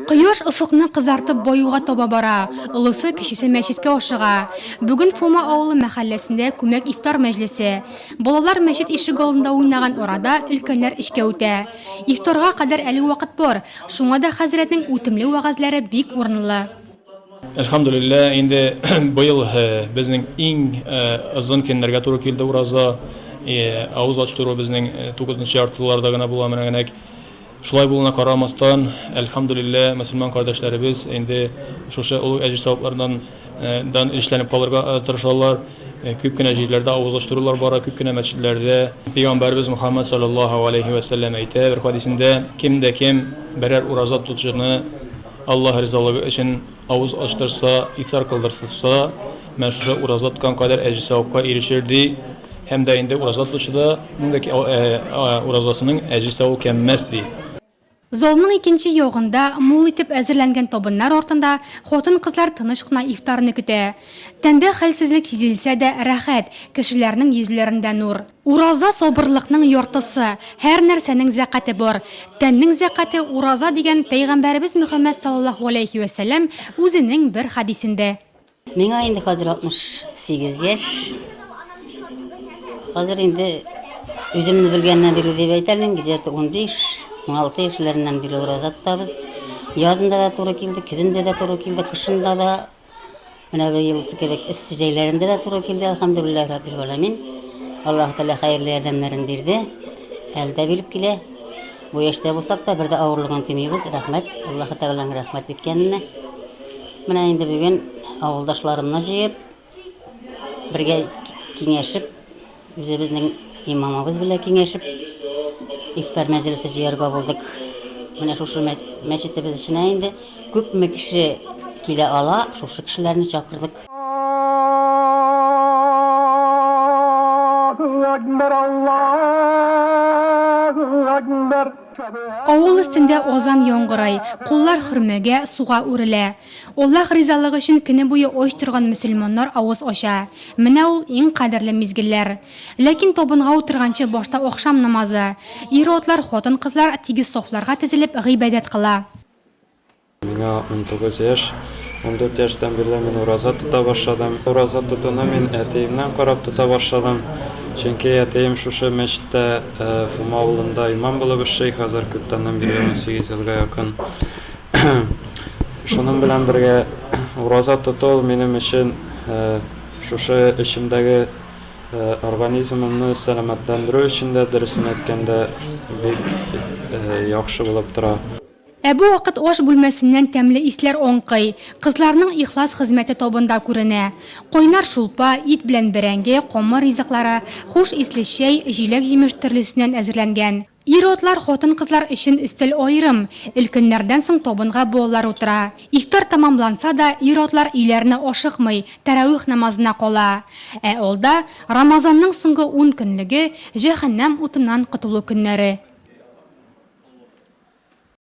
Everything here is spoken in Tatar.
Кояш офыкны кызартып баюга таба бара, олысы, кечесе мәчеткә ашыга. Бүген Фома авылы мәхәлләсендә күмәк ифтар мәҗлесе. Балалар мәчет ишегалдында уйнаган арада, өлкәннәр эшкә үтә. Ифтарга кадәр әле вакыт бар, шуңа да хәзрәтнең үтемле вәгазьләре бик урынлы. Әлхәмдүлиллә, инде быел безнең иң озын көннәргә туры килде ураза. Авыз ачтыру безнең тугызынчы яртыларда гына була, менә генәк. Шулай булуына карамастан, әлхәмдүлиллә, мөселман кардәшләребез инде шушы олуг әҗер савапларыннан дан өлешләнеп калырга тырышалар. Күп кенә җирләрдә авызлаштырулар бара, күп кенә мәчетләрдә. Пәйгамбәребез Мөхәммәд салләллаһу галәйһи вә сәлләм әйтә бер хәдисендә, Кем дә кем берәр ураза тотучыны Аллаһ ризалыгы өчен, Авыз ачтырса, ифтар кылдыртылса, менә шушы ураза тоткан кадәр әҗе-савапка ирешер, ди. Һәм дә инде ураза тотучы да, ның да уразасының әҗе-савы кәмемәс, ди. Залның икенче ягында, мул итеп әзерләнгән табыннар артында хатын-кызлар тыныч кына ифтарны көтә. Тәндә хәлсезлек сизелсә дә, рәхәт, кешеләрнең йөзләрендә нур. Ураза сабырлыкның яртысы, һәр нәрсәнең зәкате бар. Тәннең зәкате, ураза дигән Пәйгамбәребез Мөхәммәд саллаллаһу галәйһи вә сәлләм үзенең бер хәдисендә. Миңа инде хәзер 68 яшь. Хәзер инде үземне белгәннән бирле дип әйтә алмыйм, где-то 15, 16 яшьләреннән бирле ураза тотабыз. Язында да туры килде, көзендә дә туры килде, кышында да Менә бу елсы кебек эссе җәйләрендә дә туры килде, әлхәмдүлилләһи раббил галәмин. Аллаһу Тәгалә хәерле ярдәмнәрен бирде. Әле дә биреп килә. Бу яшьтә булсак та, бер дә авырлыгын тоймыйбыз. Рәхмәт, Аллаһу Тәгаләнең рәхмәт иткәненә. Менә инде бүген авылдашларымны җыеп, бергә киңәшеп, Үзебезнең имамыбыз белән киңәшеп, ифтар мәҗлесе җыярга булдык. Менә шушы мәчетебез эченә инде күпме кеше килә ала, шушы кешеләрне чакырдык. Авыл өстендә азан яңгырый, куллар хөрмәгә, суга үрелә. Аллаһ ризалыгы өчен көне буе ач торган мөселманнар авыз ача. Менә ул, иң кадерле мизгелләр. Ләкин табынга утырганчы башта ахшам намазы. Ир-атлар, хатын-кызлар тигез сафларга тезелеп, гыйбадәт кыла. Миңа унтугыз яшь. Ундүрт яшьтән бирле мин ураза тота башладым. Ураза тотуны мин әтиемнән карап тота башладым. Чөнки әтием шушы мәчеттә, Фома авылында имам булып эшли, хәзер күптәннән бирле унсигез елга якын. Шуның белән бергә ураза тоту минем өчен шушы эчемдәге организмымны сәламәтләндерү өчен дә, дөресен әйткәндә, бик яхшы булып тора. Ә бу вакыт аш бүлмәсеннән тәмле исләр аңкый, кызларның ихлас хезмәте табында күренә. Кайнар шулпа, ит белән бәрәңге, камыр ризыклары, хуш исле чәй, җиләк-җимеш төрлесеннән әзерләнгән. Ир-атлар, хатын-кызлар өчен өстәл аерым, өлкәннәрдән соң табынга балалар утыра. Ифтар тәмамланса да, ир-атлар өйләренә ашыкмый, тәравих намазына кала. Ә алда, Рамазанның соңгы ун көнлеге, җәһәннәм утыннан котылу көннәре.